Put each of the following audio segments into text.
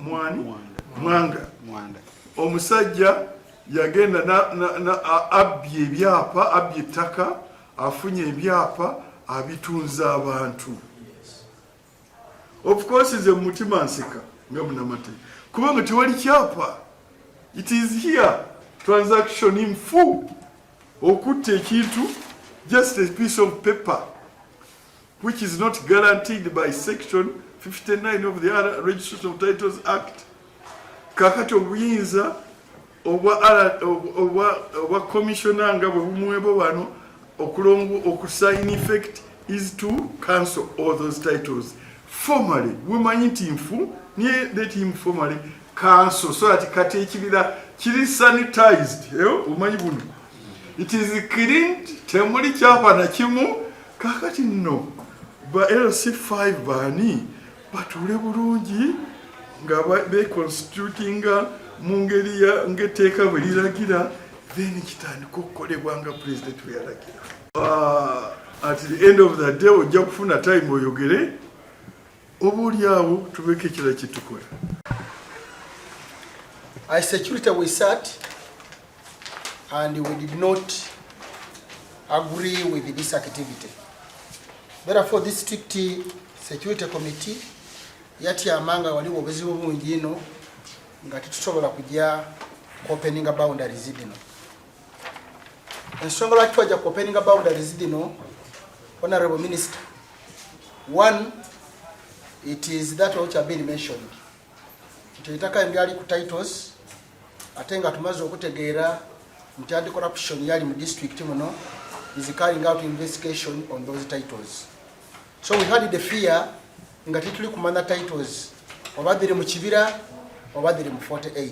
mwani mwanga omusajja yagenda abbye ebyapa abbye ettaka afunye ebyapa abitunza abantu of course nze mumutima nseka nga munamate kuba nga tewali kyapa it is here transaction in full okutta ekintu just a piece of paper which is not guaranteed by section 59 of the Registration of Titles Act kakati obuyinza obwa commissioner nga bwe bumwebo wano okulongo okusign effect is to cancel all those titles formally wemanyi nti nfu niye let him formally cancel so that kati ekibira kiri sanitized eh, omanyi buno it is cleaned temuli kyapa na kimu kakati nno ba LC5 baani batuule bulungi nga beconstitutinga mu ngeri ngaetteeka bwe liragira then kitandika okukolebwa nga pulezidenti bwe yalagira ah, at the end of the day ojja kufuna time oyogere oba oli awo tubeeko ekirala kyetukola I security we sat and we did not agree with this activity therefore this strict security committee yatyama nga waliwo obuzibu bungi ino nga tetusobola kujya kuopeninga boundaries dino ensonga lwaki twajja ku openinga boundaries dino honorable minister one it is that which have been mentioned nti etaka eryali ku titles ate nga tumaze okutegeera nti anti corruption yali mu district muno is carrying out investigation on those titles so we had the fear nga tituli kumanya titles oba dhiri mu kibira oba dhiri mu 48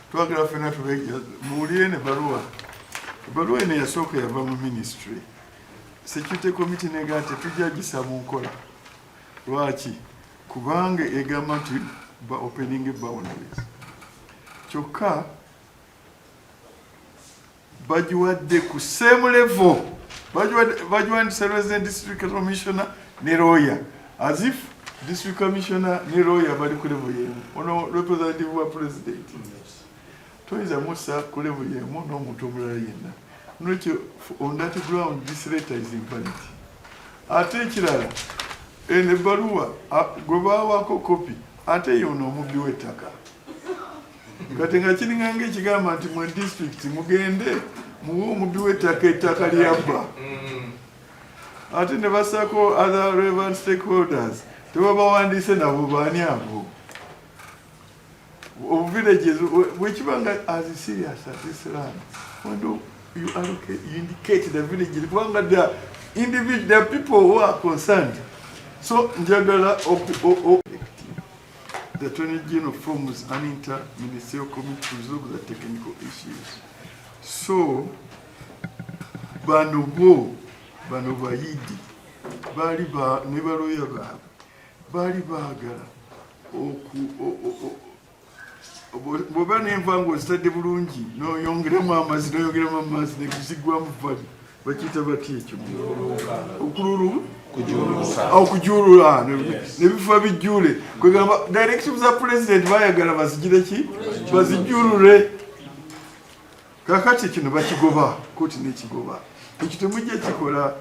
twagala fena tubeja muwulire ne baluwa ebaluwa eno yasooka yava mu ministry security committee nega nti tujja gisa mu nkola lwaki kubanga egamba nti ba opening boundaries kyokka bagiwadde ku same level bagiwandisa resident district commissioner ne lawyer as if district commissioner ne lawyer bali ku level yemu ono representative wa president toyinza musa ku level yemu n'omuntu omulala yenna nokyo on that ground this letter is invalid ate ekirala eno ebbaluwa gwe bawaako kopi ate yono omubbi w'ettaka kati nga kiringanga ekigamba nti mwe district mugende muwe omubbi w'ettaka ettaka lyabba ate ne basako other relevant stakeholders tebabawandiise nabo baani abo obuvillages bwekiba nga as serious as this land when do you allocate you indicate the villages kubanga the individual the people who are concerned so njagala The Attorney General forms an inter-ministerial committee to resolve the technical issues. So, bano bo, bano bayidi, bali ba, ne baloya baabwe, bali baagala oku, o, o, o, bwoba nenva nga ozitadde bulungi noyongeramu amazzi noyongeramu amazzi nekuzigwamu vali bakiyita batya ekyo okululu okujulula nebifuba bijjule kwegamba directive za president bayagala bazigire ki bazijulule kakati kino bakigoba koti nekigoba ekyo temujja kikola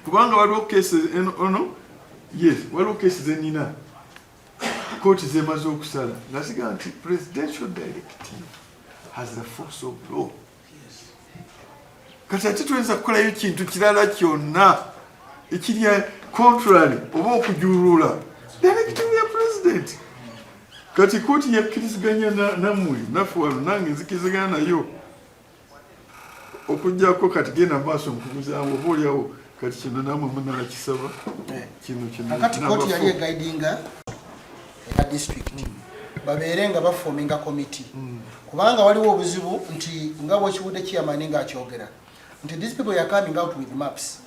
kubanga waliwo kesi ono yes waliwo kesi zenina kooti zemaze okusala nga ziga nti presidential directive has the force of law kati ate tuyinza kukolayo kintu kirala kyonna ekiri contrary oba okujulula directive ya president kati kooti yakkiriziganya namwe naffe wano nange nzikirizigana nayo okujjako kati genda maaso nkubuzamu oba olyawo kati kino namwe munakisaba eh. kino kinakati koti yali egaidinga eya district babeere nga bafominga komiti hmm. kubanga waliwo obuzibu nti nga bwekiwudde kiyamani nga akyogera nti these people are coming out with maps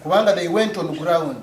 kubanga they went on ground